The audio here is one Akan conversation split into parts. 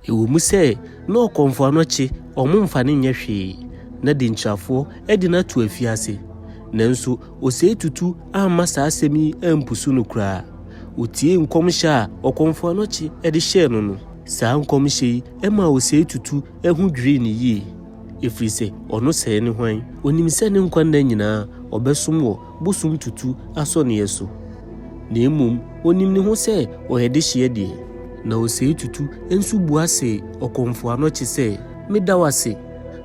Ɛwom sɛ na ɔkɔmfoa no kye wɔn mfa no nyɛ hwee, na denkyirafoɔ de no ato afiase, nanso ɔsɛe tutu amma saa asɛm yi ampusu no koraa. Ɔtiee nkɔmhyɛ a ɔkɔmfoa no kye de hyɛɛ no no. Saa nkɔmhyɛ yi maa ɔsɛe tutu ho dwirii no yie, ɛfiri sɛ ɔno sɛɛ ne hwan? Ɔnim sɛ ne nkwa nna nyinaa ɔbɛsom wɔ bosom tutu asɔneɛ so, na mmom ɔnim ne ho sɛ ɔyɛ dehyeɛ deɛ, na ɔsɛe tutu nso bua se ɔkɔmfoɔ ano kye sɛ, Meda wo ase,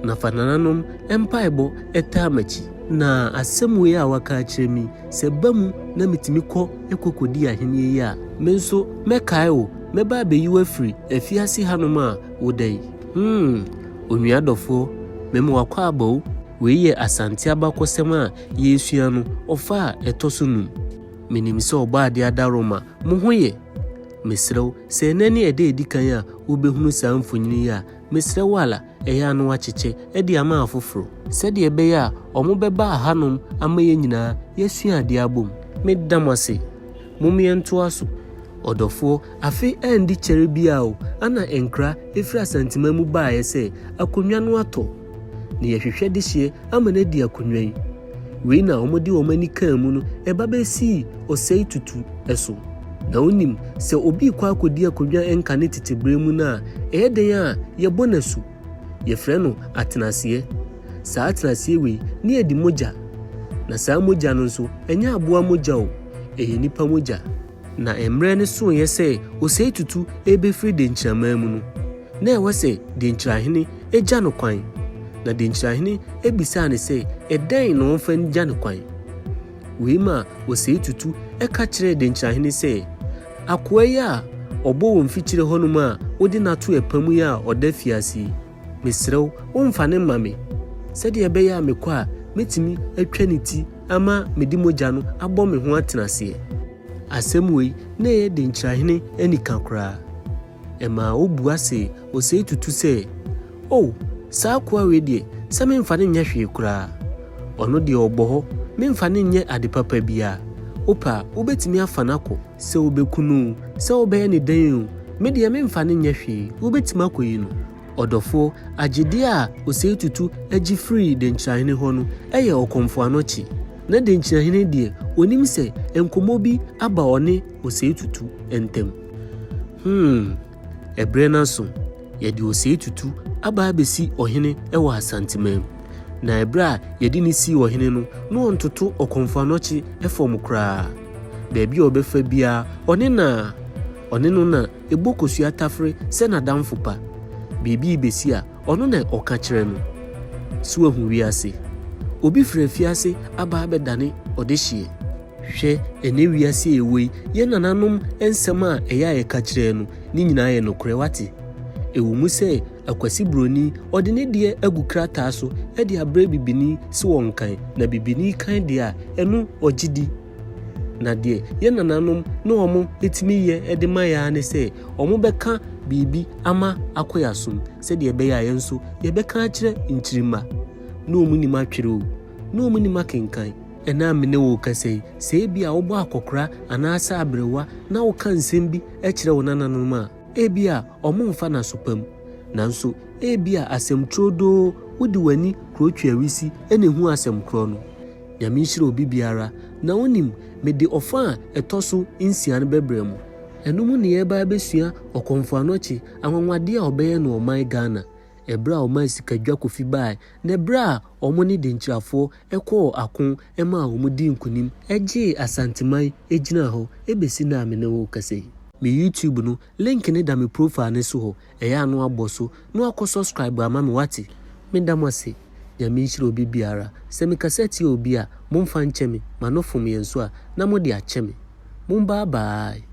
na fa nananom mpaebɔ taa m'akyi. Na asɛm wei a waka akyerɛ me yi, sɛ ɛba mu na metumi kɔ kɔkɔdi ahennie yi a, me nso mɛkae wo, mɛba abɛyi wo afiri afiase hanom a woda yi. Hmm, onua dɔfoɔ, mema wo akwaaba o. Wei yɛ Asante abakɔsɛm a yɛresua no, ɔfa a ɛtɔ so num. Minim sɛ Ɔbɔadeɛ adaworoma, mo ho yɛ? Mesrɛ wo, sɛ ɛnnɛ ne ɛda a edi kan a wubehunu saa mfonini yi a, mesrɛ wo ara, ɛyɛ a na woakyekyɛ de ama afoforo. Sɛdeɛ ɛbɛyɛ a wɔbɛba hanom ama yɛn nyinaa yɛasua adeɛ abom. Meda mo ase. Mom yɛntoa so. Ɔdɔfoɔ, afe andi kyɛre biara o, ana nkra firi Asanteman mu baeɛ sɛ, Akonnwa no atɔ. na yɛhwehwɛ dehyeɛ ama no adi akonwan. Wei na wɔde wɔn ani kaa mu no ba bɛsii ɔsɛe tutu so. Na wonim sɛ obi rekɔ akɔdi akonwa nka ne tete berɛ mu no a, ɛyɛ dɛn a yɛbɔ no asu? Yɛfrɛ no atenaseɛ. Saa atenaseɛ wei ne adi mogya. Na saa mogya no nso, ɛnyɛ aboa mogya o, ɛyɛ nnipa mogya. Na mmerɛ no soeɛ sɛ ɔsɛe tutu rebɛfiri denkyiramaa mu no, Na ɛwɔ sɛ denkyirahene gya no kwan. Na denkyirahene bisaa no sɛ, Ɛdɛn na ɔmfa ngya no kwan? Wei maa Osei Tutu ka kyerɛɛ denkyirahene sɛ, Akoa yi a ɔbɔ wɔ mfikyire hɔnom a wode no ato ɛpa mu yi a ɔda afiase yi, mesrɛ wo, womfa no mma me, sɛdeɛ ɛbɛyɛ a mekɔ a mɛtumi atwa ne ti ama mede mogya no abɔ me ho atenaseɛ. Asɛm wei na ɛyɛ denkyirahene anika koraa. Ɛmaa obua se osee tutu sɛ, O! saa akoa wei deɛ, sɛ memfa no nyɛ hwee koraa. Ɔno deɛ ɔbɔ hɔ, memfa no nyɛ ade papa biara. Wopɛ a, wobɛtumi afa no akɔ. Sɛ wobɛku no oo, sɛ wobɛyɛ no dɛn oo, me deɛ memfa no nyɛ hwee, wobɛtumi akɔyi no. Ɔdɔfoɔ, agyedeɛ a osee tutu gye firii denkyirahene hɔ no yɛ ɔkɔmfoano kye. Na denkyirahene deɛ, ɔnim sɛ nkɔmmɔ bi aba ɔne osee tutu ntɛm. Hmm, ɛberɛ no aso, yɛde osee tutu aba abɛsi ɔhene wɔ Asanteman. Na ɛberɛ a yɛde no sii ɔhene no, na ɔntoto ɔkɔmfoanɔkye fam koraa. Baabi a ɔbɛfa biara, ɔne no a, ɔne no na ɛbɔ kosua tafere sɛ n'adamfo pa. Biribi rebɛsi a, ɔno na ɔka kyerɛ no. So wahu wiase? Obi firi afiase aba abɛdane ɔdehyeɛ. Hwɛ, ɛnnɛ wiase a yɛwɔ yi, yɛn nananom nsɛm a ɛyɛ a yɛka kyerɛɛ no, ne nyinaa yɛ nokorɛ, woate. Ɛwɔ mu sɛ, akwasi buroni, ɔde ne deɛ agu krataa so de abrɛ bibini sɛ ɔnkan, na bibini kan deɛ a, ɛno ɔgye di. Na deɛ yɛn nananom ne wɔn tumi yɛ de ma yɛn ara ne sɛ, wɔbɛka biribi ama akɔ yɛn asom, sɛdeɛ ɛbɛyɛ a yɛn nso, yɛbɛka akyerɛ nkyirimma. Na wɔnim atwerɛ o, na wɔnim akenkan. Ɛnnɛ a me ne wo rekasa yi, sɛ ebia wobɔ akɔkora anaasɛ aberewa na woka nsɛm bi kyerɛ wo nananom a, ebia wɔremfa no aso pa mu. Nanso, ebia asɛm turodoo, wode w'ani koro twe ahurusi na ehu asɛm korɔ no. Nyame nhyira obi biara. Na wunim, mede ɔfã a ɛtɔ so nsia no bɛbrɛ mo. Ɛno mu na yɛreba abɛsua Ɔkɔmfoano Kye, anwanwadeɛ a ɔbɛyɛ no ɔman Ghana. ɛberɛ a wɔmaa sika dwa kofi baeɛ, na ɛberɛ a wɔne Denkyirafoɔ kɔɔ ako maa wɔdii nkonim gyee Asanteman gyinaa hɔ bɛsi nnɛ a me ne wo rekasa yi. Me YouTube no link no da me profile no so hɔ, ɛyɛ a na woabɔ so na woakɔ subscribe ama me wate. Me da mo ase, Nyame nhyira obi biara, sɛ me kasa tia obi a, mo mfa nkyɛ me, ma no fom yɛn so a, na mo de akyɛ me. Mo bye bye.